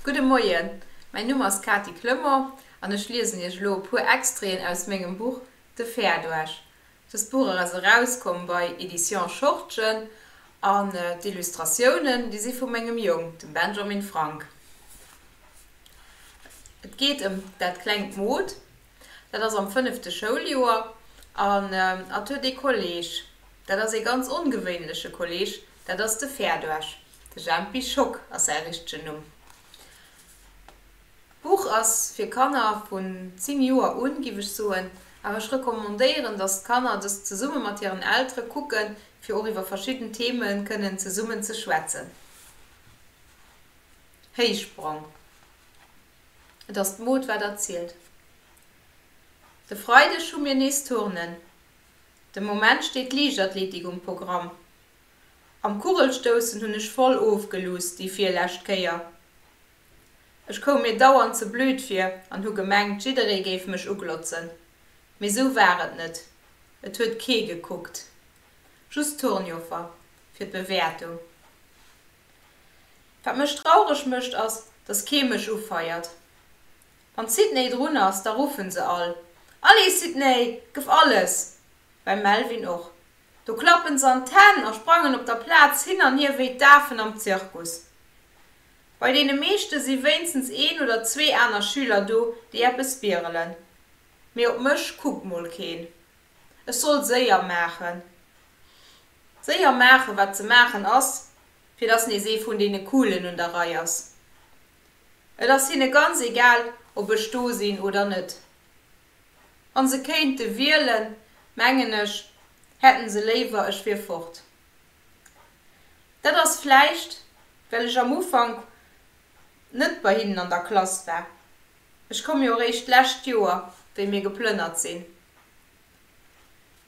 Gudde Moien, mäin Numm ass Kati Clement an ech liesen Iech elo e puer Extraiten aus mengem Buch De Fair duerch. Dëst Buch ass erauskomm bei Editions Schortgen an d'Illustratiounen, déi si vu mengem Jong, dem Benjamin Frank. Et geet ëm dat klengt Mod. Dat ass am fënnefte Schouljoer an at huet ee Kolleg, dat ass ee ganz ongewéinleche Kolleg, dat ass de Ferdoesch, de Jempi Schock ass säi richtegen Numm. D'Buch ass fir Kanner vun 10 Joer un, giff ech soen, awer ech recommandéieren, dass d'Kanner dëst zesumme mat hiren Eltere kucken, fir och iwwer verschidden Theme kënnen zesummen ze schwätzen. Héichsprong. Et ass d'Mod wat erzielt. De Freideg hu mir nees Turnen. De Moment steet d'Liichtathletik um Programm. Am Kugelstoussen hunn ech voll ofgeluusst déi virlescht Kéier. Ech koum mir dauernd ze blöd vir an hu gemengt jidderee géif mech uglotzen. Mee sou war et net. Et huet kee gekuckt. Just d'Turnjoffer fir d'Bewäertung. Wat mech traureg mécht ass, dass kee mech ufeiert. Wann d'Sydney drun ass, da ruffen se all, Allez Sydney, gëff alles! Beim Melvin och. Do klappen se an d'Hänn a sprangen op der Plaz hin an hier wéi d'Afen am Zirkus. Bei deene meeschte si wéinstens een oder zwee aner Schüler do, déi eppes bierelen. Mee op mech kuckt mol keen. Ech soll séier maachen. Séier maachen, wat ze maachen ass, fir dass nees ee vun deene Coolen un der Rei ass. Et ass hinne ganz egal, ob ech do sinn oder net. Wann se kéinte wielen, mengen ech, hätte se léiwer, ech wier fort. Dat ass vläicht, well ech am Ufank net bei hinnen an der Klass war. Ech komm jo réischt d'lescht Joer, wéi mir geplënnert sinn.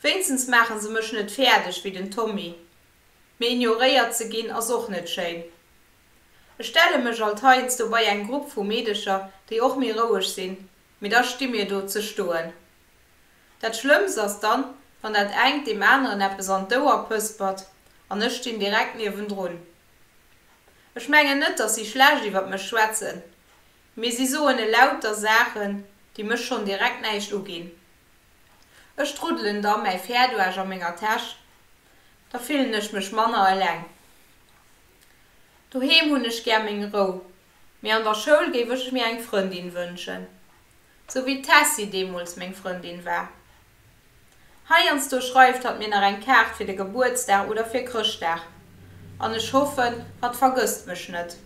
Wéinstens maache se mech net fäerdeg wéi den Tommy, mee ignoréiert ze ginn ass och net schéin. Ech stelle mech alt heiansdo bei eng Grupp vu Meedecher, déi och méi roueg sinn, mee da sti mir do ze stoen. Dat Schlëmmst ass dann, wann dat engt deem aneren eppes an d'Ouer pëspert an ech stinn direkt niewendrun. Ech mengen net, dass si schlecht iwwer mech schwätzen, Mee si soen elauter Saachen, déi mech schonn direkt näischt uginn. Ech druddelen da mäi Fäerduerg a menger Täsch, da fillen ech mech manner eleng. Doheem hunn ech gär meng Rou, mee an der Schoul géif ech mir eng Frëndin wënschen, sou wéi d'Tessy deemools meng Frëndin war. Heiansdo schreift hatt mir nach eng Kaart fir de Gebuertsdag oder fir Chrëschtdag, an ech hoffen, hatt vergësst mech net.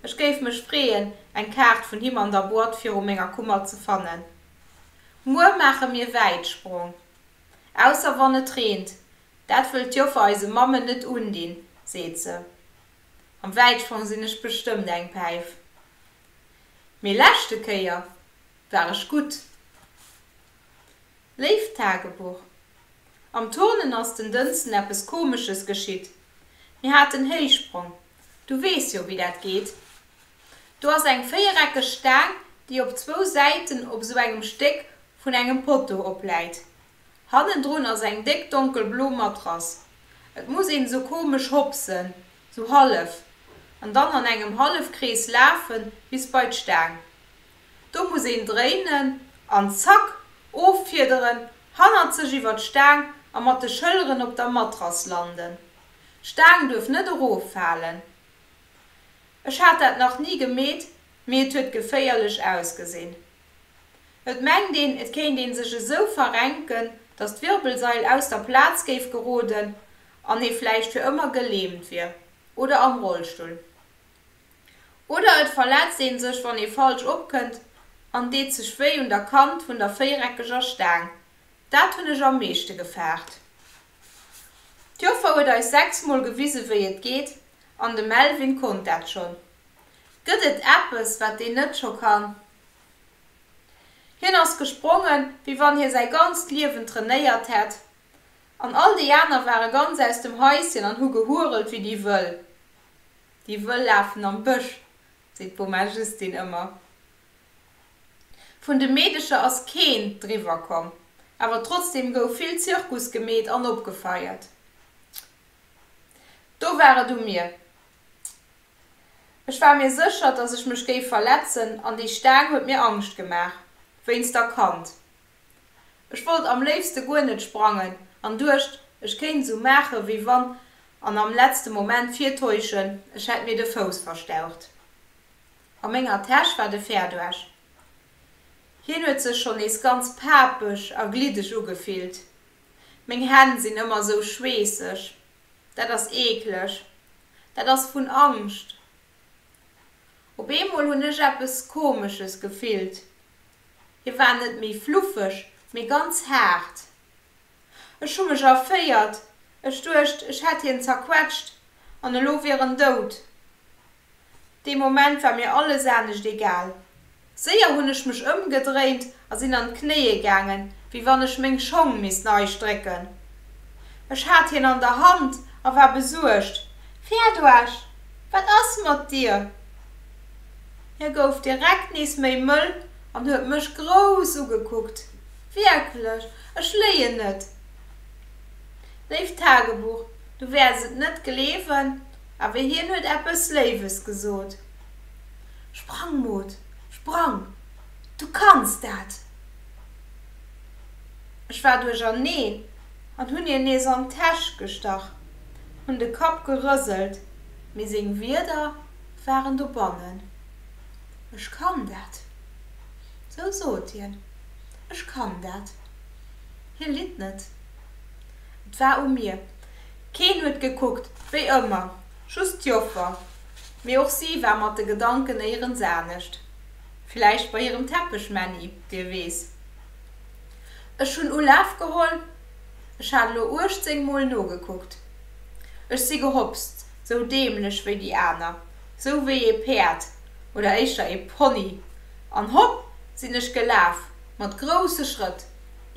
Ech géif mech freeën, eng Kaart vun him an der Boîte viru menger Kummer ze fannen. Muer maache mir Wäitsprong. Ausser wann et reent. Dat wëllt d'Joffer eise Mammen net undinn, seet se. Am Wäitsprong sinn ech bestëmmt eng Päif. mee leschte Kéier war ech gutt. Léift Tagebuch, Am Turnen ass den Dënsten eppes komesches geschitt. Mir haten Héichsprong, du weess jo wéi dat geet. Do ass eng véiereckeg Staang déi op zwou Säiten op sou engem Stéck vun engem Potto opläit. Hannendrun ass eng déck donkelblo Matrass. Et muss een sou komesch hopsen, Sou hallef, an dann an engem Hallefkrees lafen bis bei d'Staang. Do muss een dréinen an zack, offiederen, hannerzeg iwwer d'Staang a mat de Schëlleren op der Matrass landen. D'Staang duerf net eroffalen. Ech hat dat nach ni gemeet, mee et huet geféierlech ausgesinn. Et mengt een, et kéint ee sech esou verrenken, datt d'Wirbelsail aus der Plaz géif geroden An hee vläicht fir ëmmer geläämt wier oder am Rollstull. Oder et verletzt ee sech, wann ee falsch opkënnt an deet sech wéi un der Kant vun der véireckeger Staang. Dat hunn ech am meeschte gefaart. D'Joffer huet eis sechs Mol gewise wéi et geet an de Melvin konnt dat schonn. Gëtt et eppes, wat deen net scho kann? Hien ass gesprongen, wéi wann hie säi ganzt Liewen trainéiert hätt An all déi aner ware ganz aus dem Haischen an hu gehurelt wéi déi Wëll. Déi Wëll lafen am Bësch, seet d'Boma Justine ëmmer. Vun de Meedecher ass keen driwwer komm, awer trotzdeem gouf vill Zirkus gemeet an opgefeiert. Do war et u mir. Ech war mir sécher, dass ech mech géif verletzen an déi Staang huet mir Angscht gemaach, wéinst der Kand. Ech wollt am léifste guer net sprangen an duecht, ech kéint esou maache wéi wann an am letzte Moment virtäuschen, ech hätt mir de Fouss verstaucht. A menger Täsch war de Fäerduerg. Hien huet sech schonn nees ganz papeg a gliddeg ugefillt. Meng Hänn sinn ëmmer esou schweesseg. Dat ass eekleg. Dat ass vun Angscht. Op eemol hunn ech eppes Komesches gefillt. Hie war net méi fluffeg, mee ganz haart. Ech hu mech erféiert, ech duecht, ech hätt hien zerquetscht an elo wier en dout. Dee Moment war mir alles anescht egal. Séier hunn ech mech ëmgedréint a sinn an d'Knéie gaangen, wéi wann ech meng Schong misst nei strécken. Ech hat hien an der Hand a war besuergt. Riadoasch, wat ass mat dir? Hie gouf direkt nees méi mëll an huet mech grouss ugekuckt. Wierklech, ech léien net. Léift Tagebuch, du wäers et net gleewen, awer hien huet eppes Léiwes gesot. Sprang, Maud, sprang! Du kanns dat! Ech war duercherneen an hunn hien nees an d'Täsch gestach, hunn de Kapp gerëselt, mee seng Wierder Waren dobannen. Ech kann dat. Sou sot hien. Ech kann dat. Hie litt net. Et war u mir. Keen huet gekuckt, wéi ëmmer, just d'Joffer. Mee och si war mat de Gedanken néierens anescht. Villäicht bei hirem Teppechmänni, wie weess. Ech hunn Ulaf geholl. Ech hat elo uechtzéng Mol nogekuckt. Ech si gehopst. Sou däämlech wéi déi aner, sou wéi ee Päerd, oder éischter ee Pony. An hopp sinn ech gelaf, mat grousse Schrëtt,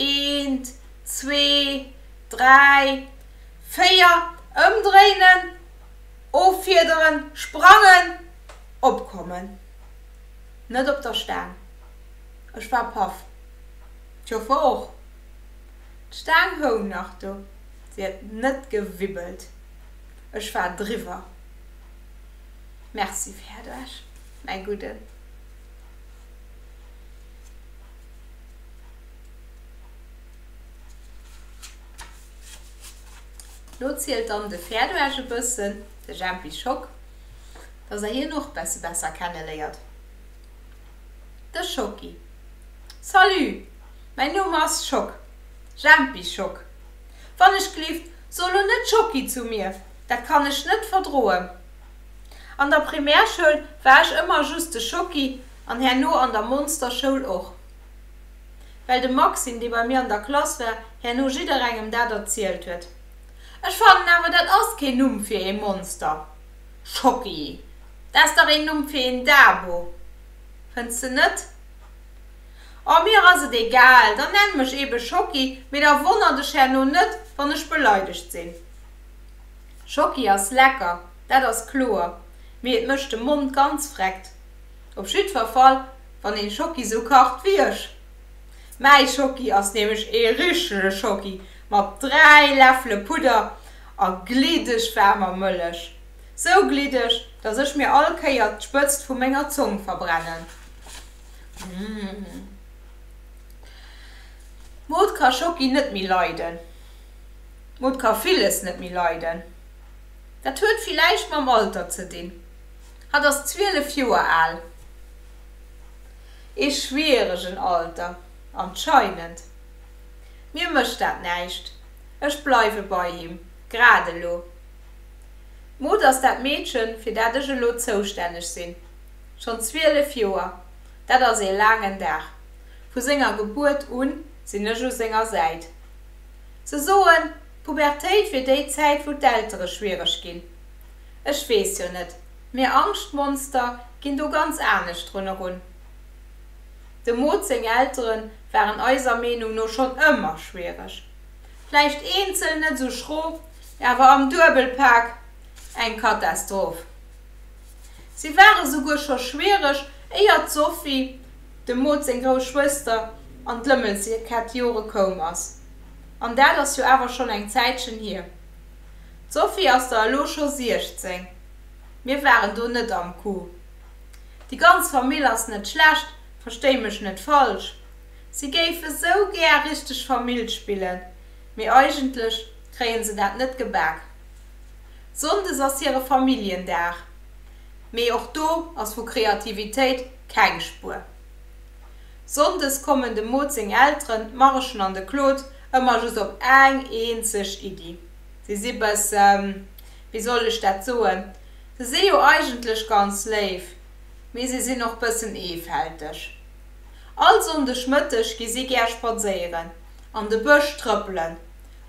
eent, zwee, dräi, véier, ëmdréinen, offiederen, sprangen, opkommen. Net op der Staang. Ech war paff. D'Joffer och. D'Staang houng nach do, se huet net gewibbelt. Ech war driwwer. Merci Ferduerg, mäi Gudden. Lo zielt dann de Ferduerg e bëssen, de Jempi Schock, dass der hien och besse besser kenneléiert. De Schocki, Salut, mäi Numm ass Schock, Jempi Schock. Wann ech gleeft. So lo net Schocki zu mir, dat kann ech net verdroen. An der Primärschoul war ech ëmmer just de Schocki an herno an der Monsterschoul och. Well de Maxime, dee bei mir an der Klass war, herno jidderengem dat erzielt huet. Ech fannen awer dat ass keen Numm fir ee Monster. Schocki, dat ass dach een Numm fir een Dabo, fënns de net? Oh, mir ass et egal, dann nenn mech ebe Schocki, mee da wonner dech herno net, wann ech beleidegt sinn. Schocki ass lecker, dat ass kloer, mee et mécht de Mond ganz vreckt. Op jiddwer Fall, wann een Schocki sou kacht wéi ech. Mäi Schocki ass nämlech ee richtege Schocki mat dräi Läffele Pudder a gliddeg waarmer Mëllech. Sou gliddeg, dass ech mir all Kéier d'Spëtzt vu menger Zong verbrennen. D'Mod ka Schocki net méi leiden. D'Mod ka villes net méi leiden. Dat huet villäicht mam Alter ze dinn. Hatt ass 12 Joer al. Ee schwieregen Alter, anscheinend. Mir mécht dat näischt, ech bleiwe bei him, grad elo. D'Maud ass dat Meedchen, fir dat ech elo zoustänneg sinn. Schonn 12 Joer, dat ass ee laangen Dag. Vu senger Gebuert u sinn ech u senger Säit. Se soen, d'Pubertéit wier déi Zäit, wou d'Eltere schwiereg ginn. Ech weess jo net, mir Angschtmonster ginn do ganz anescht drun erun. Dem Maud seng Eltere waren eiser Meenung no schonn ëmmer schwiereg. Vläicht eenzel net sou schrof, awer am Duebelpak eng Katastroph. Si war esouguer scho schwiereg, éier d'Sophie, dem Maud seng grouss Schwëster, an d'Lëmmelkettjore koum ass. An dat ass jo awer schonn eng Zäitchen hier. D'Sophie ass der elo scho 16. Mir waren do net am Coup. Déi ganz Famill ass net schlecht, verstéi mech net falsch. Si géife sou gär richteg Famill spillen, mee eigentlech kréie se dat net gebak. Sonndes ass hire Familljendag, mee och do ass vu Kreativitéit keng Spuer. Sonndes kommen dem Maud seng Elteren, d'Marischen an de Claude, ëmmer just op eng eenzeg Iddi. Si si bësse, wéi soll ech dat soen, se si jo eigentlech ganz léif, mee si sinn och bëssen eefälteg. All Sonndeg Mëtteg gi si gär spadséieren, an de Bësch trëppelen,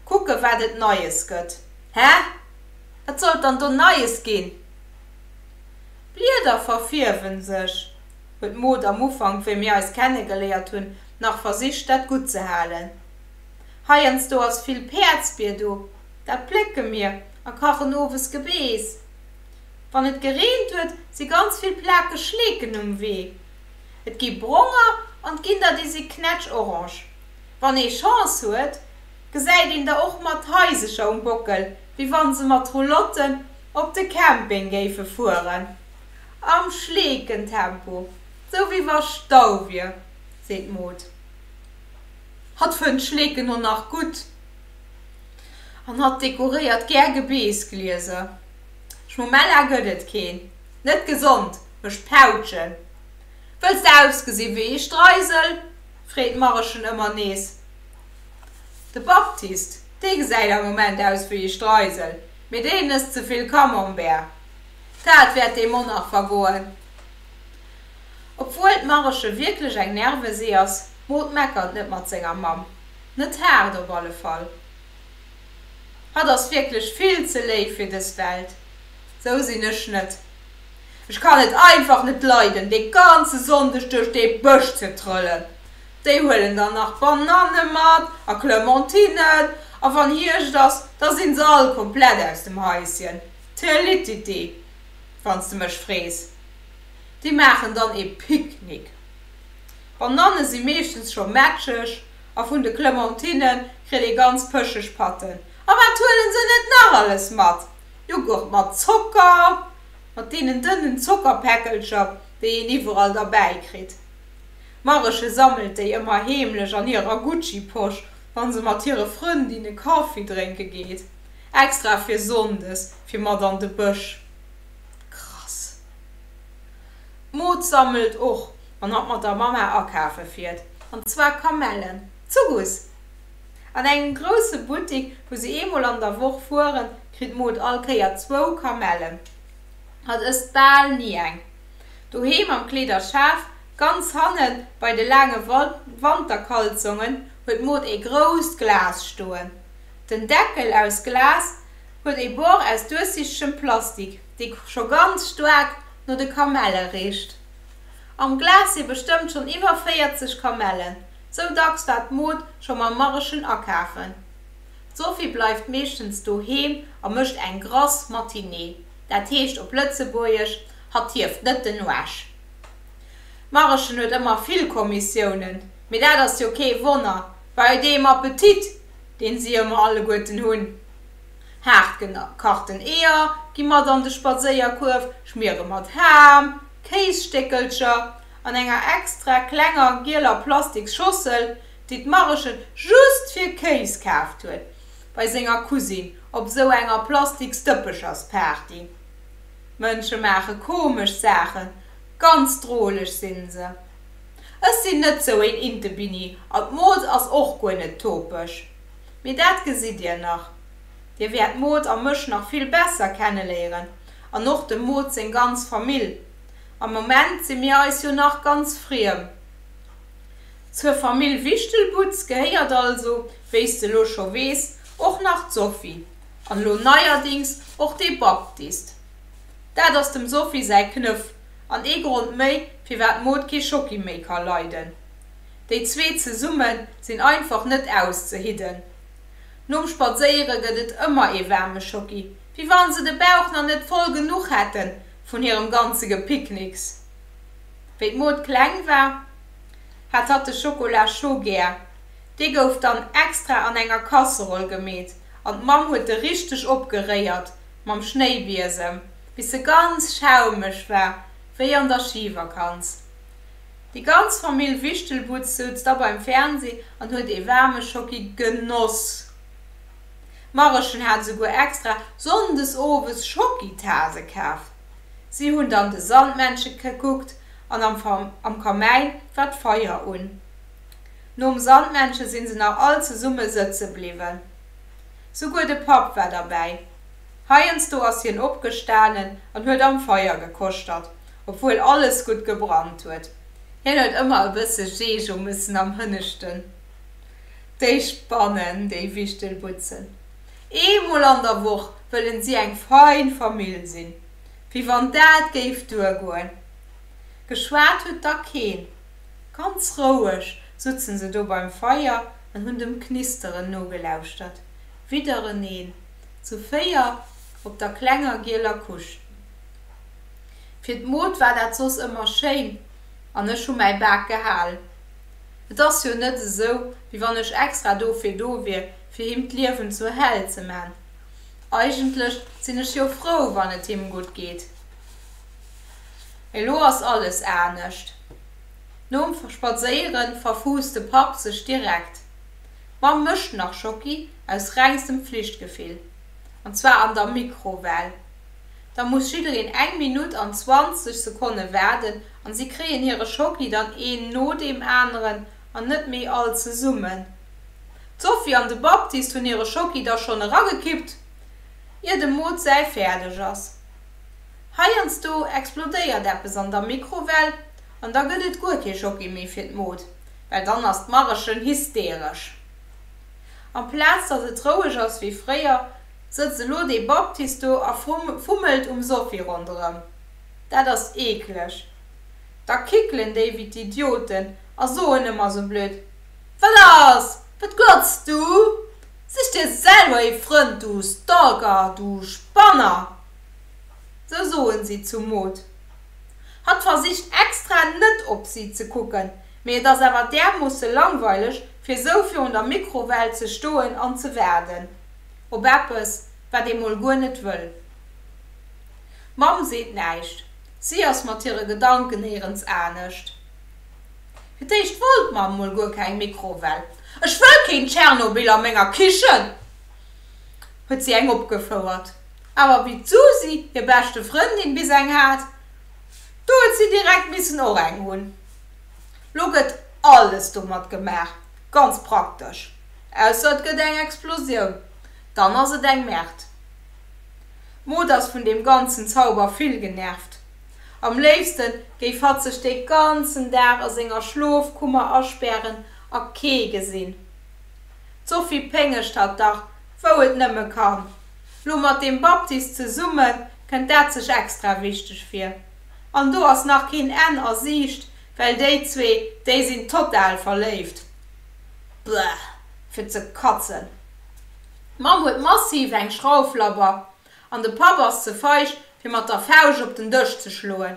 kucke wat et Neies gëtt. Hä? Wat sollt dann do Neies ginn? D'Blieder verfierwe sech, huet d'Maud am Ufank, wéi mir eis kennegeléiert hunn, nach versicht dat gutt ze halen. Heiansdo ass vill Päerdsbier do, dat plécke mir a kachen owes Gebeess. Wann et gereent huet, si ganz vill plakeg Schleeken um Wee. Et gi bronger an 't ginn der déi si knätsch-orange. Wann ee Chance huet, gesäit een der och mat Haisecher um Bockel, wéi wann se mat Roulotten op de Camping géife fueren. Am Schleekentempo, sou wéi wa Stau wier, seet d'Maud. Hatt fënnt Schleeken och nach gutt an hatt dekoréiert gär Gebeesglieser. Schmomella gëtt et keen, net gesond, mécht Pautschen. Wëlls de ausgesi wéi ee Streisel? freet d'Marechen ëmmer nees de Baptiste. Dee gesäit am Moment aus wéi ee Streisel, mee deen ësst ze vill Camembert, dat wäert deem och nach vergoen. Obwuel d'Mareche wierklech eng Nervesee ass, Maud meckert net mat senger Mamm, net haart op alle Fall. Hatt ass wierklech vill ze léif fir dës Welt, sou sinn ech net. Ech kann et einfach net leiden, dee ganze Sonndeg duerch dee Bësch ze trëllen. Déi huelen dann nach d'Bananne mat a Clementinnen, a wann Hierscht ass, da si se all komplett aus dem Haischen. Telititi, wann s de mech frees. Déi maachen dann ee Picknick. D'Bananne si meeschtens scho mätscheg a vun de Clementinne kritt ee ganz pëscheg Patten. A wat huele se net nach alles mat? Joghurt mat Zocker, mat deenen dënnen Zockerpäckelcher, déi een iwwerall derbäi kritt. D'Mareche sammelt déi ëmmer heemlech an hirer Gucci-Posch, wa se mat hire Frëndinne Kaffi drénke geet, extra fir sonndes fir mat an de Bësch. Krass! D'Maud sammelt och, wann hatt mat der Mamma akafe fiert, an zwar Kamellen. Zu Guss! An engem grousse Buttik, wou se eemol an der Woch fueren, kritt d'Maud all Kéier zwou Kamellen. Hatt ësst bal ni eng. Doheem am Kleederschaf, ganz hanne bei de laange Wanterkalzongen, huet d'Maud ee grousst Glas stoen. Den Deckel aus Glas huet ee Bord aus duerchsichtegem Plastik, dee scho ganz staark no de Kamelle richt. Am Glas si bestëmmt schonn iwwer 40 Kamellen. Sou dacks war d'Maud scho mam Marischen akafen. D'Sophie bleift meeschtens doheem a mécht eng grass Matinée, dat heescht op Lëtzebuergesch, hatt hieft net den Uesch. D'Marischen huet ëmmer vill Kommissiounen, mee dat ass jo kee Wonner bei deem Appetit, deen si ëmmer alleguerten hunn. Haart gekachten Eeër gi mat an de Spadséierkuerf, Schmiere mat Ham, Kéisstéckelcher an enger extra klenger gieler Plastiks Schossel, déi d'Marechen just fir Kéis kaaft huet bei senger Cousine op sou enger Plastiks Dëppechersparty. Mënsche maache komesch Saachen, ganz droleg sinn se. Ech sinn net sou een Intebinni an d'Mod ass och guer net topeg. Mee dat gesitt dir nach. Dir wäert d'Mod a mech nach vill besser kenneléieren an och dem Mod seng ganz Famill. Am Moment si mir eis jo nach ganz friem. Zur Famill Wichtelbutz gehéiert also, wéis de lo scho weess, och nach d'Sophie an lo neierdings och de Baptist. Dat ass dem Sophie säi Knëff an ee Grond méi, firwat d'Maud kee Schocki méi ka leiden. Déi zwee zesumme sinn einfach net auszehidden. Nom Spadséiere gëtt et ëmmer ee waarme Schocki, wéi wann se de Bauch nach net voll genuch hätten. Vun hirem ganze Gepiknicks. Wéi d'Maud kleng war, hat hatt de Schokola scho gär. Dee gouf dann extra an enger Kasseroll gemeet an d'Mamm huet e richteg opgeréiert mam Schnéibiesem, bis e ganz schaumeg war, wéi an der Schivakanz. Déi ganz Famill Wichtelbutz souz da beim Fernseh an huet ee waarme Schocki genoss. D'Marechen hat souguer extra sonndes owes Schokitase kaf. Si hunn dann de Sandmännche kekuckt an am Kamäin war d'Feier un. Nom Sandmännche sinn se nach all zesumme sëtze bliwwen. Souguer de Papp war derbäi. Heiansdo ass hien opgestanen an huet am Feier gekoschtert, obwuel alles gutt gebrannt huet. Hien huet ëmmer e bësse Jeejo mussen am Hënneschten. Déi spannen, déi Wichtelbutzen. Eemol an der Woch wëllen si eng fein Famill sinn. Wéi wann dat géif duergoen. Geschwat huet da keen. Ganz roueg sutzen se do beim Feier an hunn dem Knisteren nogelauschtert. Widdereneen zu véier op der klenger gieler Couche. Fir d'Maud war dat soss ëmmer schéin an ech hu mäi Bak gehal. Et ass jo net esou, wéi wann ech extra dofir do wier, fir him d'Liewen zur Häll ze man. Eigentlech sinn ech jo frou, wann et him gutt geet. Mee elo ass alles anescht. Nom Spadséiere verfuusst de Papp sech direkt. D'Mamm mécht nach Schocki aus rengstem Flichtgefill. An zwar an der Mikrowell. Da muss jiddereen eng Minutt an 20 Sekonne waarden, An si kréien hire Schoki dann een no deem aneren an net méi all zesummen. D'Sophie an de Baptiste hunn hire Schoki da schonn eragekippt, ier dem Maud säi fäerdeg ass. Heiansdo explodéiert eppes an der Mikrowell an da gëtt et guer kee Schoki méi fir d'Maud, well dann ass d'Marechen hysteresch. Amplaz datt et roueg ass wéi fréier, sëtzt elo de Baptiste do a fummelt um Sophie ronderëm. Dat ass eekleg. Da kickelen déi wéi d'Idioten a soen ëmmer sou blöd, Wat ass? Wat glotz du? Sich dir selwer ee Frënd, du Stalker, du Spanner! Sou soen si zum Maud. Hatt versicht extra net op si ze kucken, mee et ass awer därmoosse langweileg, fir sou virun der Mikrowell ze stoen an ze waarden op eppes, wat ee mol guer net wëll. D'Mamm seet näischt, si ass mat hire Gedanken néierens anescht. Fir d'éischt wollt d'Mamm mol guer keng Mikrowell, Ech wëll keen Tschernobyl a menger Kichen! huet si eng opgefouert. Awer wéi d'Susi, hir beschte Frëndin, bis eng hat, do huet si direkt missen och eng hunn. Lo gëtt alles domat gemaach, ganz praktesch, ausser et gëtt eng Explosioun, dann ass et eng Merde. D'Mod ass vun deem ganzen Zauber vill genervt. Am léifste géif hatt sech de ganzen Dag a senger Schlofkummer aspären a kee gesinn. D'Sophie péngegt hatt dach wou et nëmme kann. Lo mat deem Baptist zesumme kënnt dat sech extra wichteg vir. An do ass nach keen Enn a Siicht, well déi zwee, déi sinn total verléift. Bäh, fir ze katzen. D'Mamm huet massiv eng Schrauflabber an de Papp ass ze feig fir mat der Fauscht op den Dësch ze schloen.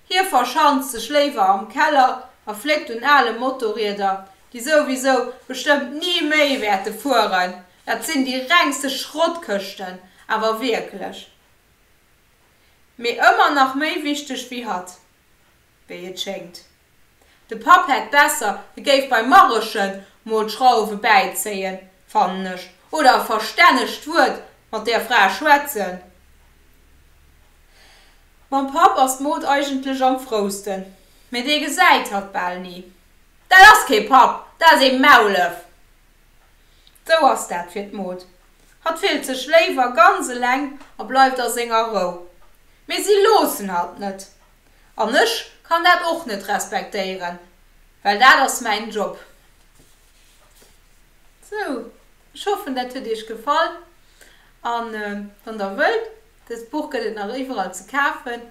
Hie verschanzt sech léiwer am Keller a fléckt un ale Motorrieder, déi souwisou bestëmmt ni méi wäerte fueren. Dat sinn déi rengste Schrottkëschten, awer wierklech. Mee ëmmer nach méi wichteg wéi hatt. wéi et schéngt. De Papp hätt besser, e géif beim Marrechen mol d'Schrauwe bäizéien, fannen ech, oder e verstännegt Wuert mat där Fra schwätzen. Mam Papp ass d'Maud eigentlech am frousten, mä dee gesäit hatt bal ni. Dat ass kee Papp, dat ass ee Maulef! Sou ass dat fir d'Maud. Hatt fillt sech léiwer ganz eleng a bleift a senger Rou. Mee si loossen hatt net. An ech kann dat och net respektéieren, well dat ass mäin Job. Sou, ech hoffen dat huet iech gefall. An wann der wëllt, dëst Buch gëtt et nach iwwerall ze kafen,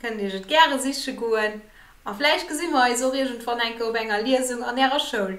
kënnt iech et gäre siche goen. A vläicht gesi mer eis och iergendwann enke op enger Liesung an ärer Schoul.